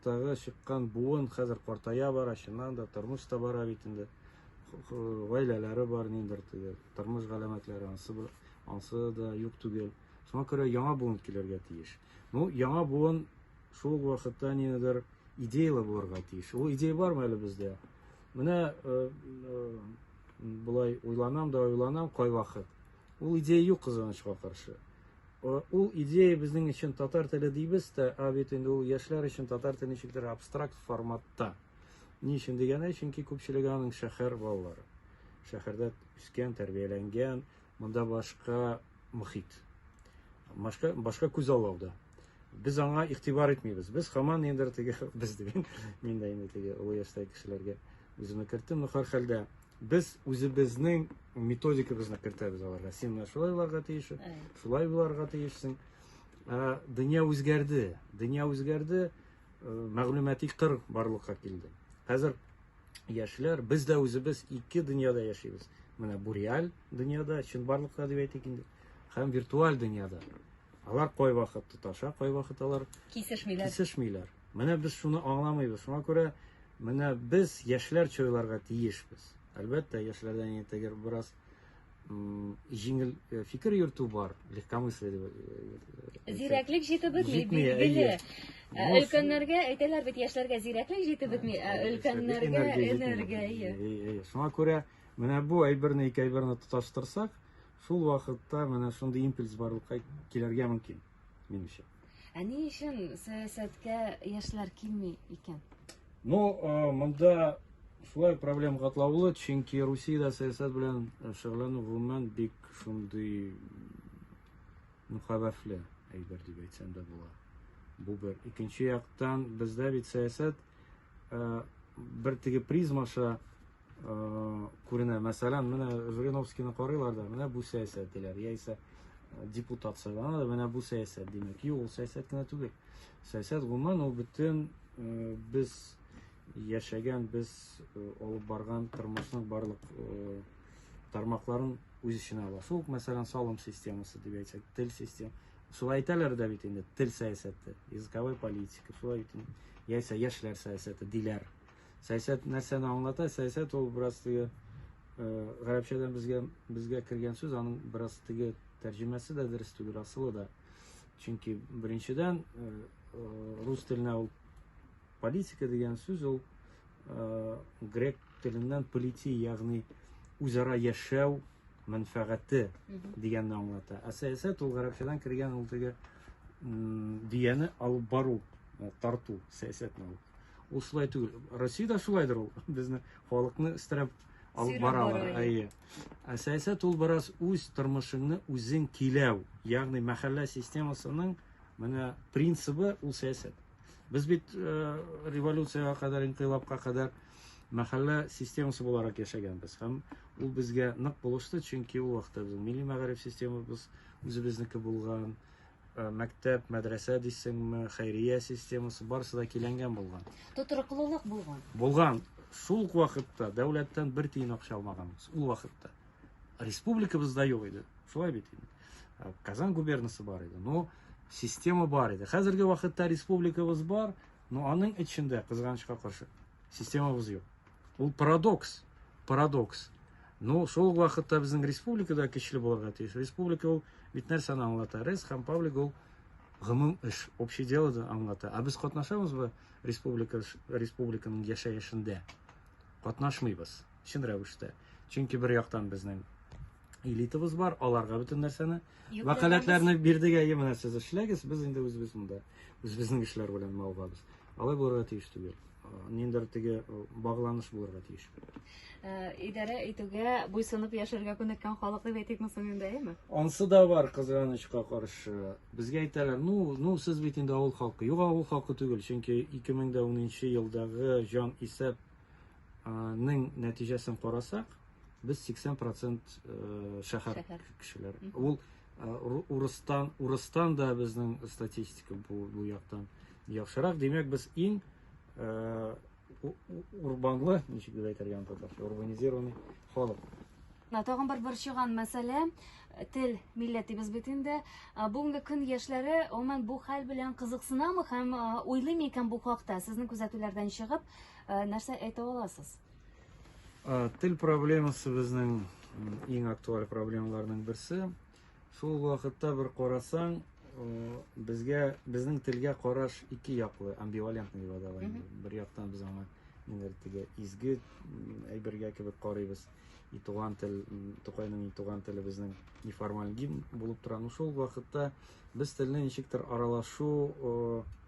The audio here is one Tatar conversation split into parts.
Тагы чыккан буын хәзер картая бара, чыннан да тормыш та бара бит инде. Гаиләләре бар ниндер теге, тормыш галәмәтләре ансы, ансы да юк түгел. Шуңа күрә яңа буын килергә тиеш. Ну, яңа буын шул вакытта ниндидер идеялы булырга тиеш. Ул идея бармы әле бездә? Менә э, э, былай уйланам да уйланам кайвакыт. Ул идея юк кызганычка каршы. Ул идея безнең өчен татар теле дибез дә, ә бит инде ул яшьләр өчен татар теле ничектер абстракт форматта. Ни өчен дигәндә, чөнки күпчелеге аның шәһәр балалары. Шәһәрдә үскән, тәрбияләнгән, монда башка мөхит. Башка, башка күз аллауда. Без аңа игътибар итмибез. Без хаман ендер теге без диген. Мин дә инде теге олы яшьтәге кешеләргә үземне керттем. Ну, хәл хәлдә Без үзебезнең методикабызны кертәбез аларга. Син менә шулай буларга тиеш, шулай буларга тиешсең. Ә, дөнья үзгәрде. Дөнья үзгәрде, э, мәгълүмати кыр барлыкка килде. Хәзер яшьләр, без дә үзебез ике дөньяда яшибез. Менә бу реаль дөньяда, чынбарлыкта дип әйтик инде, һәм виртуаль дөньяда. Алар кайвакыт тоташа, кайвакыт алар кисешмиләр. кисешмиләр. Менә без шуны аңламыйбыз. Шуңа күрә менә без яшьләрчә уйларга тиешбез. Әлбәттә, яшьләрдән инде бераз җиңел э, фикер йөртү бар, легкомыслие дип. Э, э, зирәклек җитеп бетми, билгеле. Ә өлкәннәргә әйтәләр бит, яшьләргә зирәклек җитеп бетми, ә өлкәннәргә энергия. Әйе, шуңа күрә менә бу әйберне ике әйберне тоташтырсак, шул вакытта менә шундый импульс барлыкка килергә мөмкин, минемчә. Ә ни өчен сәясәткә яшьләр килми икән? Ну, э, монда шулай проблем катлаулы, чөнки Русиядә сәясәт белән э, шөгыльләнү гомумән бик шундый ну, хәвефле әйбер дип әйтсәм дә була. Бу бер. Икенче яктан, бездә бит сәясәт э, бер теге призмаша күренә. Мәсәлән, менә Жириновскийны карыйлар да, менә бу сәясәт диләр, яисә депутат сайлана да, менә бу сәясәт димәк. Юк, ул сәясәт кенә түгел. Сәясәт гомумән ул бөтен без яшәгән, без алып барган тормышның барлык тармакларын үз эченә ала. Шул, мәсәлән, салым системасы дип әйтсәк, тел системасы. Шулай әйтәләр дә бит инде, тел сәясәте, языковая политика, шулай бит инде. Яисә яшьләр сәясәте диләр. Сәясәт нәрсәне аңлата? Сәясәт ул бераз теге гарәпчәдән безгә безгә кергән сүз, аның бераз теге тәрҗемәсе дә дөрес түгел, асылы да. Чөнки беренчедән рус теленә ул политика дигән сүз ул грек теленнән полити, ягъни үзара яшәү мәнфәгате дигәнне аңлата. Ә сәясәт ул гарәпчәдән кергән ул теге дөяне алып бару, тарту сәясәтне ул. Ул шулай түгел. Россиядә шулайдыр ул. Безне халыкны өстерәп алып баралар. Әйе. Ә сәясәт ул бераз үз тормышыңны үзең киләү. Ягъни мәхәллә системасының менә принцибы ул сәясәт. Без бит э, революциягә кадәр, инкыйлабка кадәр мәхәллә системасы буларак яшәгәнбез һәм ул безгә нык булышты чөнки ул вакытта безнең милли мәгариф системабыз үзебезнеке булган Э, мәктәп, мәдрәсә дисеңме, хәйрия системасы, барысы да киләнгән булган. Тотрыклылык булган. Булган. Шул ук вакытта дәүләттән бер тиен акча алмаганбыз. Ул вакытта. Республикабызда юк иде. Шулай бит инде. Э, Казан губернасы бар иде. Но система бар иде. Хәзерге вакытта республикабыз бар, но аның эчендә кызганычка каршы системабыз юк. Ул парадокс, парадокс. Ну, шул ук вакытта безнең республика да көчле булырга тиеш. Республика ул бит нәрсәне аңлата? Рез һәм паблик ул гомум эш, общий дело да аңлата. Ә без катнашабызбы республика республиканың яшәешендә? Катнашмыйбыз, чын рәвештә. Чөнки бер яктан безнең элитабыз бар, аларга бөтен нәрсәне вәкаләтләрне бирдек, әйе, менә сез эшләгез, без инде үзебез монда үзебезнең эшләр белән мавыгабыз. Алай булырга тиеш түгел. Ниндер теге багланыш булырга тиеш. Э, идарә итүгә буйсынып яшәргә күнеккән халык дип әйтик соң инде, әйеме? Ансы да бар, кызганычка каршы. Безгә әйтәләр, ну, ну сез бит инде авыл халкы. Юк, авыл халкы түгел, чөнки 2010 елдагы җан исәп Ның нәтиҗәсен карасак, без 80 процент э, шәһәр кешеләр. Ул э, урыстан, урыстан да безнең статистика бу, бу яктан яхшырак. Димәк, без иң э, урбанлы, ничек дип әйтергә аны татарча, урбанизированный халык. На тагын бер борчыган мәсьәлә тел милләтебез бит инде. Бүгенге көн яшьләре гомумән бу хәл белән кызыксынамы һәм уйлыймы икән бу хакта? Сезнең күзәтүләрдән чыгып, Ә, нәрсә әйтә аласыз? Ә, тел проблемасы безнең иң актуаль проблемаларның берсе. Шул вакытта бер карасаң, безгә безнең телгә караш ике яклы, амбивалентный дип атала. Бер яктан без аңа инертиге изге әйбергә кебек карыйбыз. И туган тел, Тукайның и туган теле безнең неформаль гимн булып тора. Ну шул вакытта без телне ничектер аралашу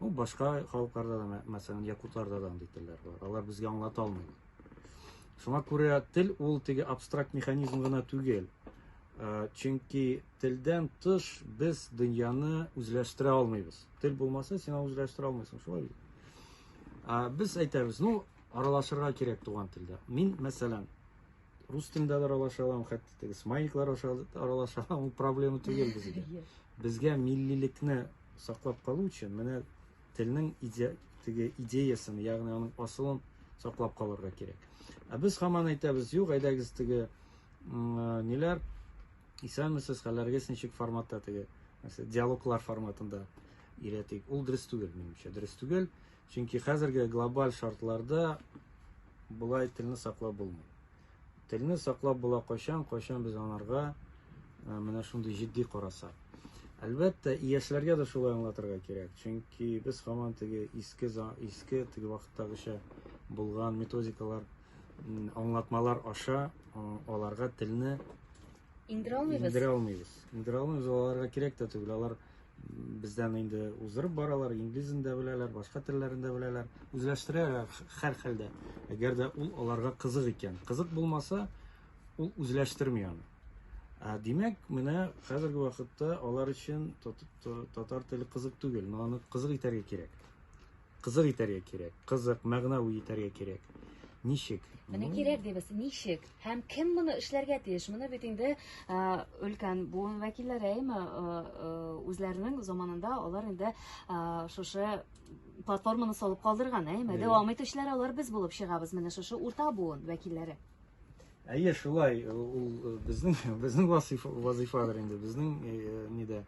Ну, башка халыкларда да, мәсәлән, якутларда да андый телләр бар. Алар безгә аңлата алмыйлар. Шуңа күрә тел ул теге абстракт механизм гына түгел. Э, чөнки телдән тыш без дөньяны үзләштерә алмыйбыз тел булмаса син аны үзләштерә алмыйсың шулай бит ә, без әйтәбез ну аралашырга кирәк туган телдә мин мәсәлән рус телендә дә аралаша алам, хәтта теге смайликлар аша аралаша алам, ул проблема түгел безгә. Безгә миллилекне саклап калу өчен менә телнең иде, теге идеясын, ягъни аның асылын саклап калырга кирәк. Ә без хаман әйтәбез, юк, әйдәгез теге ниләр исәнмесез, хәлләрегез ничек форматта теге диалоглар форматында өйрәтик. Ул дөрес түгел, минемчә, дөрес түгел. Чөнки хәзерге глобаль шартларда болай телне саклап булмый. Телне саклап була кайчан, кайчан без анарга э, менә шундый җитди карасак. Әлбәттә, яшьләргә дә шулай аңлатырга кирәк. Чөнки без хаман теге иске иске теге вакыттагыча булган методикалар, аңлатмалар аша э, аларга телне Иңдерә алмыйбыз. Иңдерә алмыйбыз. Иңдерә алмыйбыз, аларга кирәк тә түгел. Алар бездән инде узырып баралар, инглизен дә беләләр, башка телләрен дә беләләр. Үзләштерәләр һәр хәлдә. Әгәр дә ул аларга кызык икән. Кызык булмаса, ул үзләштерми аны. Ә димәк, менә хәзерге вакытта алар өчен татар теле кызык түгел, но аны кызык итәргә кирәк. Кызык итәргә кирәк. Кызык, мәгънәви итәргә кирәк. Ничек? Менә кирәк дибез, ничек? Һәм кем моны эшләргә тиеш? Моны бит инде өлкән буын вәкилләре әйме үзләренең заманында алар инде шушы платформаны салып калдырган, әйме? Дәвам итүчеләр алар без булып чыгабыз, менә шушы урта буын вәкилләре. Әйе, шулай. Ул безнең безнең вазифа вазифадыр инде, безнең нидә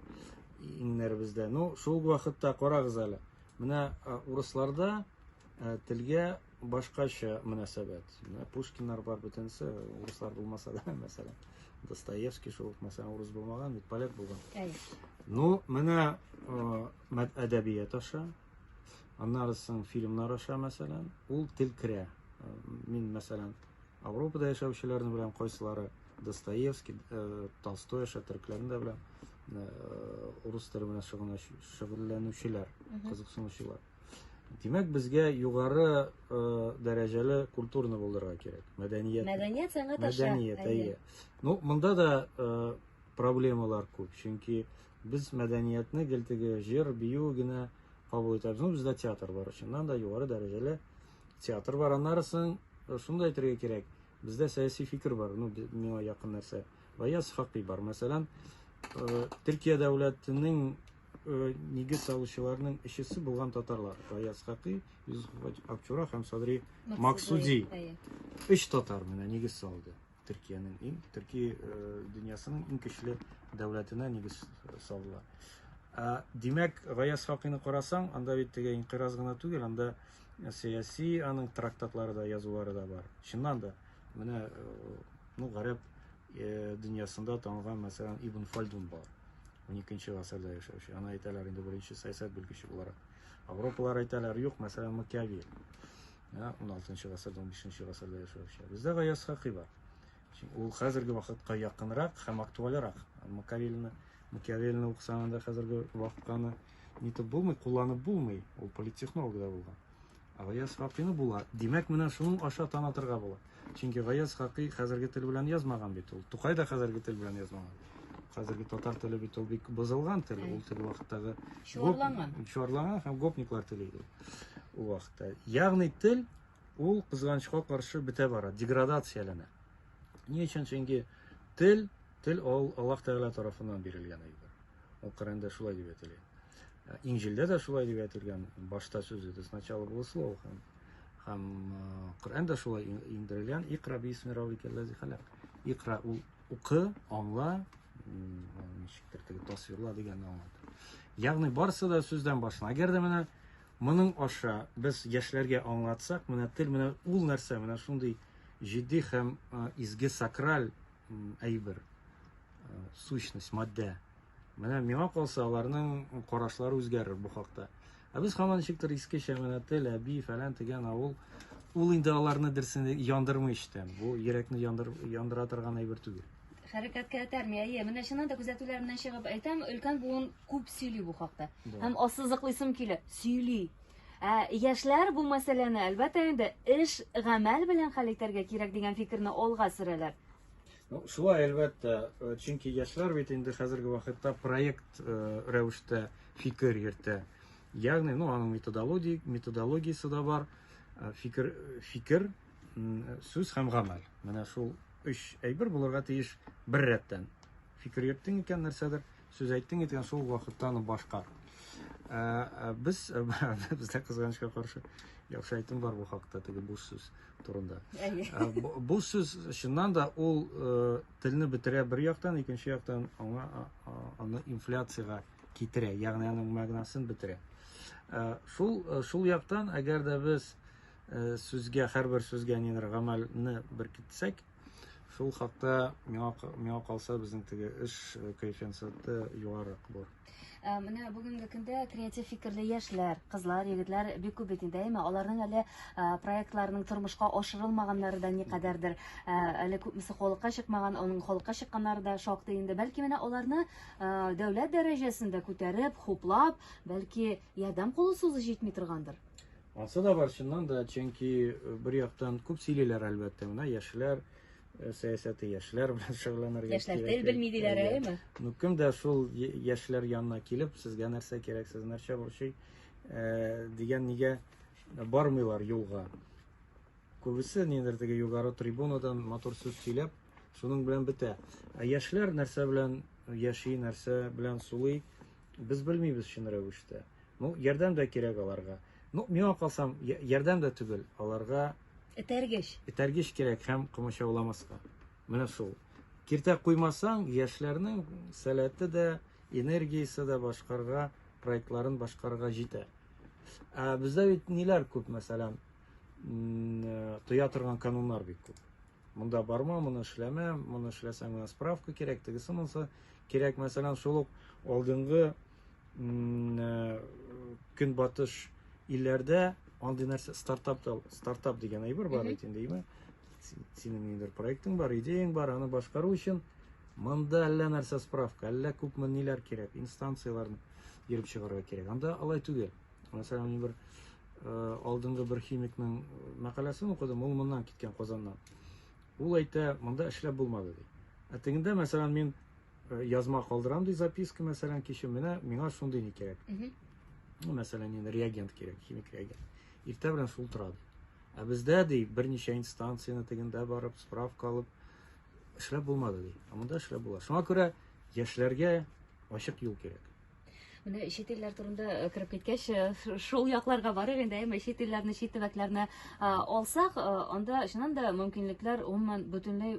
иңнәребездә. Ну, шул вакытта карагыз әле. Менә урысларда телгә башкача мөнәсәбәт. Менә Пушкиннар бар бөтенесе, урыслар булмаса да, мәсәлән. Достоевский шул ук, мәсәлән, урыс булмаган, бит поляк булган. Ну, менә әдәбият аша, аннары соң фильмнар аша, мәсәлән, ул тел керә. Мин, мәсәлән, Ауропада яшәүчеләрне беләм, кайсылары Достоевский, Толстой аша төрекләрне дә беләм. Урыс теле белән шөгыльләнүчеләр, кызыксынучылар. Димәк, безгә югары дәрәҗәле культурны булдырырга кирәк. Мәдәният. Мәдәният сәнгать аша. Мәдәният, әйе. Ну, монда да проблемалар күп, чөнки без мәдәниятне гел теге җыр, бию генә кабул итәбез. Ну, бездә театр бар, чыннан да югары дәрәҗәле Театр бар, аннары соң э, шуны да әйтергә кирәк. Бездә сәяси фикер бар, ну миңа якын нәрсә. Ваяз Хакый бар. Мәсәлән, э, Төркия дәүләтенең э, нигез салучыларның өчесе булган татарлар. Ваяз Хакый, Юзеф Акчура һәм Садри Максуди. Өч татар менә нигез салды. Төркиянең иң төрки э, дөньясының иң көчле дәүләтенә нигез э, салдылар. Ә, димәк, Гаяз Факыйны карасаң, анда бит теге инкыйраз гына түгел, анда э, сәяси аның трактатлары да, язулары да бар. Чыннан да, менә ну, гарәп дөньясында танылган, мәсәлән, Ибн Фальдун бар. 12-нче гасырда яшәүче. Аны әйтәләр инде беренче сәясәт белгече буларак. Авропалар әйтәләр, юк, мәсәлән, Макиавель. Ә, уналтынчы гасырда, унбишенче гасырда яшәүче. Бездә Гаяз Хакый бар. Ул хәзерге вакытка якынрак һәм актуальрак. Макавеллины, Макиавеллины укысаң анда хәзерге вакытканы нитеп булмый, кулланып булмый. Ул политтехнолог да булган. А Гаяз Хакыйны була. Димәк, менә шуның аша танатырга була. Чөнки Гаяз Хакый хәзерге тел белән язмаган бит ул. Тукай да хәзерге тел белән язмаган. Хәзерге татар теле бит ул бик бозылган тел. Ул тел вакыттагы чуарланган. Чуарланган һәм гопниклар теле иде ул вакытта. Ягъни тел ул кызганычка каршы бетә бара, деградацияләнә. Ни өчен? Чөнки тел, тел ул Аллаһ Тәгалә тарафыннан бирелгән әйбер. Ул Коръәндә шулай дип әйтелгән. Инҗилдә дә шулай дип әйтелгән. Башта сүз иде, сначала было слово. Һәм Коръән дә шулай иңдерелгән. Икра бисми равикәл ләзи халак. Икра ул укы, аңла, ничектер теге тасвирла дигәнне аңлата. Ягъни барысы да сүздән башлана. Әгәр дә менә моның аша без яшьләргә аңлатсак, менә тел менә ул нәрсә, менә шундый җитди һәм изге сакраль әйбер, сущность, матдә. Менә миңа калса, аларның карашлары үзгәрер бу хакта. Ә без һаман ничектер иске Шәмәнәтел, Әби, фәлән дигән авыл, ул инде аларны дөресен яндырмый эчтән. Бу йөрәкне яндыр, яндыра торган әйбер түгел. Хәрәкәткә этәрми, әйе. Менә чыннан да күзәтүләр менән чыгып әйтәм, өлкән буын күп сөйли бу хакта. Һәм ассызыклыйсым килә, сөйли. Ә яшьләр бу мәсьәләне, әлбәттә инде, эш, гамәл белән хәл итәргә кирәк дигән фикерне алга сөрәләр. Ну, шулай, әлбәттә, э, чөнки яшьләр бит инде хәзерге вакытта проект э, рәвештә фикер йөртә. Ягъни, ну, аның методологи, методологиясе дә бар, э, фикер, фикер, сүз һәм гамәл. Менә шул өч әйбер булырга тиеш бер рәттән. Фикер йөрттең икән нәрсәдер, Сүз әйттең икән, шул ук вакытта аны башкар. Ә, ә, без бездә кызганычка каршы яхшы әйтем бар бу хакта, теге буш сүз турында. Ә, бу, бу сүз чыннан да ул ә, телне бетерә бер яктан, икенче яктан аңа а, а, аны инфляциягә китерә, ягъни аның мәгънәсен бетерә. Ә, шул ә, шул яктан, әгәр дә без ә, сүзгә, һәрбер сүзгә нидер гамәлне беркетсәк, Шул хакта миңа, миңа калса безнең теге эш коэффициенты югарырак булыр. Ә, менә бүгенге көндә креатив фикерле яшьләр, кызлар, егетләр бик күп бит инде, әйме? Аларның әле ә, проектларының тормышка ашырылмаганнары да никадәрдер. Ә, әле күпмесе халыкка чыкмаган, оның халыкка чыкканнары да шактый инде. Бәлки менә аларны ә, дәүләт дәрәҗәсендә күтәреп, хуплап, бәлки ярдәм кулы сузу җитми торгандыр. Ансы да бар, чыннан да, чөнки э, бер яктан күп сөйлиләр, әлбәттә, менә яшьләр э, сәясәте, яшьләр белән шөгыльләнергә. Яшьләр тел белми диләр, әйеме? Ну, кем дә шул яшьләр янына килеп, сезгә нәрсә кирәк, сез нәрсә борчый, э, дигән нигә бармыйлар юлга. Күбесе нидер теге югары трибунадан матур сүз сөйләп, шуның белән бетә. Ә яшьләр нәрсә белән яши, нәрсә белән сулый, без белмибез чын рәвештә. Ну, ярдәм дә кирәк аларга. Ну, миңа калсам, ярдәм дә түгел, аларга этәргеч. Этәргеч кирәк һәм комачауламаска. Менә шул. Киртә куймасаң, яшьләрнең сәләте дә, энергиясе дә башкарга, проектларын башкарга җитә. Ә бездә бит ниләр күп, мәсәлән, э, тоя торган кануннар бик күп. Монда барма, моны эшләмә, моны эшләсәң, менә справка кирәк, тегесе монысы кирәк. Мәсәлән, шул ук алдынгы э, көнбатыш илләрдә андый нәрсә стартап стартап дигән әйбер бар бит инде әйме синең ниндидер проектың бар идеяң бар аны башкару өчен монда әллә нәрсә справка әллә күпме ниләр кирәк инстанцияләрне йөреп чыгарга кирәк анда алай түгел мәсәлән мин бер э, алдынгы бер химикның мәкаләсен укыдым ул моннан киткән казаннан ул әйтә монда эшләп булмады ди ә тегендә мәсәлән мин Э, язма калдырам ди записка мәсәлән кичү менә миңа шундый не кирәк ну мәсәлән инде реагент кирәк химик реагент иртә белән шул тора ди ә бездә ди берничә инстанцияне тегендә барып справка алып эшләп булмады ди ә монда эшләп була шуңа күрә яшьләргә ачык юл кирәк менә чит илләр турында э, кереп киткәч э, шул якларга барыр инде әмма чит илләрне чит төбәкләрне алсак анда чыннан да мөмкинлекләр гомумән бөтенләй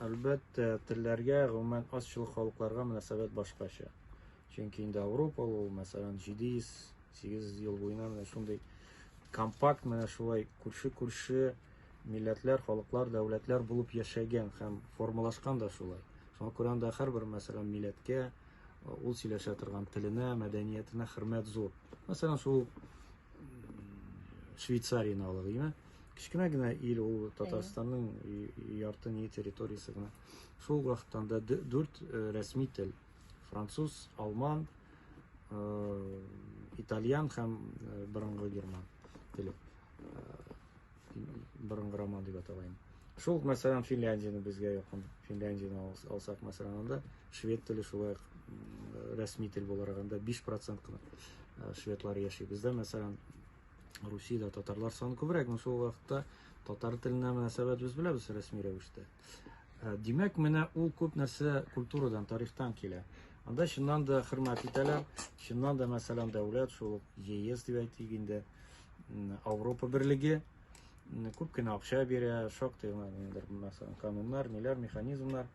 Әлбәттә, телләргә, гомумән, азчылык халыкларга мөнәсәбәт башкача. Чөнки инде Авропа ул, мәсәлән, 700-800 ел буена менә шундый компакт менә шулай күрше-күрше милләтләр, халыклар, дәүләтләр булып яшәгән һәм формалашкан да шулай. Шуңа күрә анда һәрбер, мәсәлән, милләткә, ул сөйләшә торган теленә, мәдәниятенә хөрмәт зур. Мәсәлән, шул Швейцарияне алыйк, димә. кечкенә генә ил ул татарстанның ярты ни территориясе генә шул вакыттан да дүрт э, рәсми тел француз алман э, итальян һәм э, борынгы герман теле борынгы роман дип аталайын шул мәсәлән финляндияны безгә якын финляндияны алсак мәсәлән анда швед теле шулай рәсми тел буларак анда биш процент кына шведлар яши бездә мәсәлән Русиядә татарлар саны күбрәк, но шул вакытта татар теленә мөнәсәбәт без беләбез рәсми рәвештә. Ә, димәк, менә ул күп нәрсә культурадан, тарихтан килә. Анда чыннан да хөрмәт итәләр, чыннан да, мәсәлән, дәүләт, шул ЕС дип әйтик инде, Европа берлеге күп кенә акча бирә, шактый гына, мәсәлән, кануннар, ниләр, механизмнар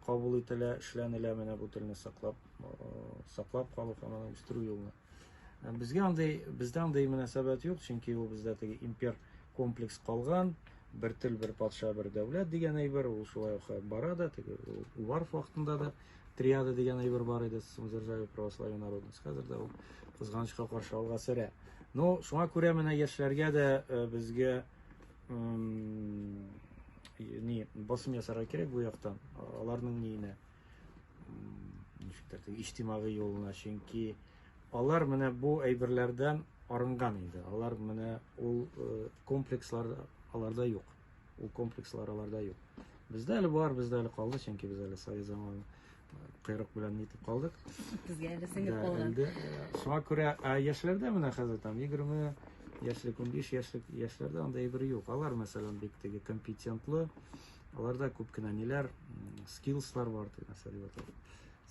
кабул ителә, эшләнелә менә бу телне саклап, саклап калу һәм аны үстерү юлына. Безгә андый, бездә андый мөнәсәбәт юк, чөнки ул бездә теге импер комплекс калган, бер тел, бер патша, бер дәүләт дигән әйбер, ул шулай ук бара да, теге Уварф вакытында да триада дигән әйбер бар иде, Сумзержаве православие народность. Хәзер дә ул кызганычка каршы алга сөрә. Но шуңа күрә менә яшьләргә дә э, безгә ни басым ясарга кирәк бу яктан, аларның ниенә. ничектер теге иҗтимагый юлына, чөнки алар менә бу әйберләрдән арынган инде. Алар менә ул э, комплекслар аларда юк. Ул комплекслар аларда юк. Бездә әле бар, бездә әле калды, чөнки без әле совет заманы э, кыйрык белән нитеп калдык. Безгә әле сеңеп калган. Э, шуңа күрә яшьләрдә менә хәзер там 20 яшьлек, 15 яшьлек яшьләрдә анда әйбер юк. Алар мәсәлән бик теге компетентлы, Аларда күп кенә ниләр, скиллслар бар, дип мәсәлән,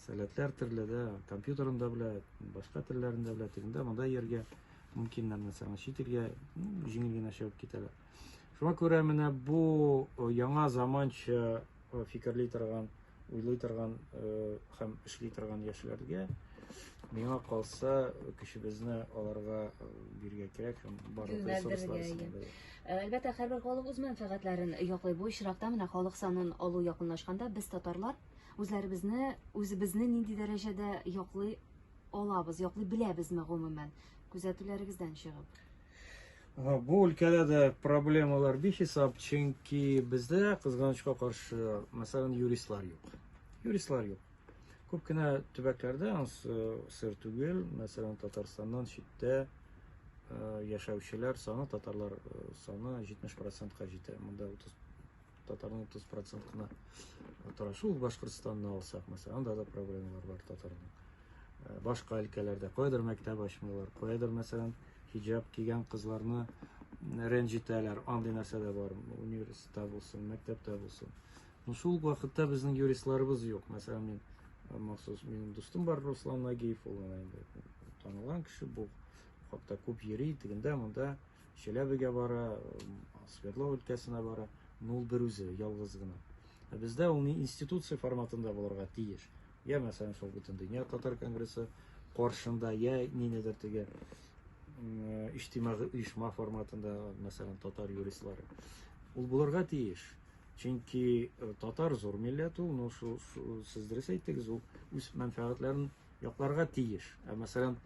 сәләтләр төрле дә, компьютерын да белә, башка телләрен дә белә, тегендә монда йөргә мөмкиннәр, мәсәлән, чит илгә җиңел генә чыгып китәләр. Шуңа күрә менә бу яңа заманча фикерли торган уйлый торган һәм эшли торган яшьләргә миңа калса көчебезне аларга бирергә кирәк һәм барлык ресурслар әлбәттә һәрбер халык үз мәнфәгатьләрен яклый бу очракта менә халык санын алу якынлашканда без татарлар үзләребезне үзебезне нинди дәрәҗәдә яклый алабыз яклый беләбезме гомумән күзәтүләрегездән чыгып Бу өлкәдә дә проблемалар бихисап, чөнки бездә кызганычка каршы, мәсәлән, юристлар юк. Юристлар юк. Күп кенә төбәкләрдә, сыр түгел, мәсәлән, Татарстаннан читтә яшәүчеләр саны, татарлар саны 70%-ка җитә. Монда татарның 30 процент кына тора шул башкортстанны алсак мәсәлән анда да проблемалар бар татарның э, башка өлкәләрдә кайдыр мәктәп ачмыйлар кайдыр мәсәлән хиджаб кигән кызларны рәнҗетәләр андый нәрсә дә бар университетта булсын мәктәптә булсын но шул вакытта безнең юристларыбыз юк мәсәлән мин э, махсус минем дустым бар руслан нагиев ул инде танылган кеше бу хакта күп йөри тегендә монда да Челәбегә бара, Свердлов өлкәсенә бара, но ул берүзе, ялгыз гына. Ә бездә ул ни институция форматында булырга тиеш. Я, мәсәлән, шул бөтен дөнья татар конгрессы каршында, я нинедер теге иҗтимагый оешма форматында, мәсәлән, татар юристлары. Ул булырга тиеш. Чөнки татар зур милләт ул, но шул сез дөрес әйттегез, ул үз мәнфәгатьләрен якларга тиеш. Ә мәсәлән,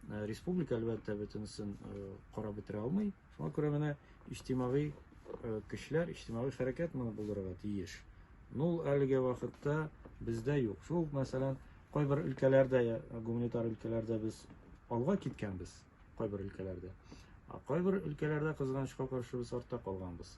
э, республика әлбәттә бөтенесен э, карап бетерә алмый. Шуңа күрә менә иҗтимагый э, көчләр, иҗтимагый хәрәкәт моны булдырырга тиеш. Ну, әлеге вакытта бездә юк. Шул, мәсәлән, кайбер өлкәләрдә, гуманитар өлкәләрдә без алга киткәнбез, кайбер өлкәләрдә. Ә кайбер өлкәләрдә кызганычка каршы без артта калганбыз.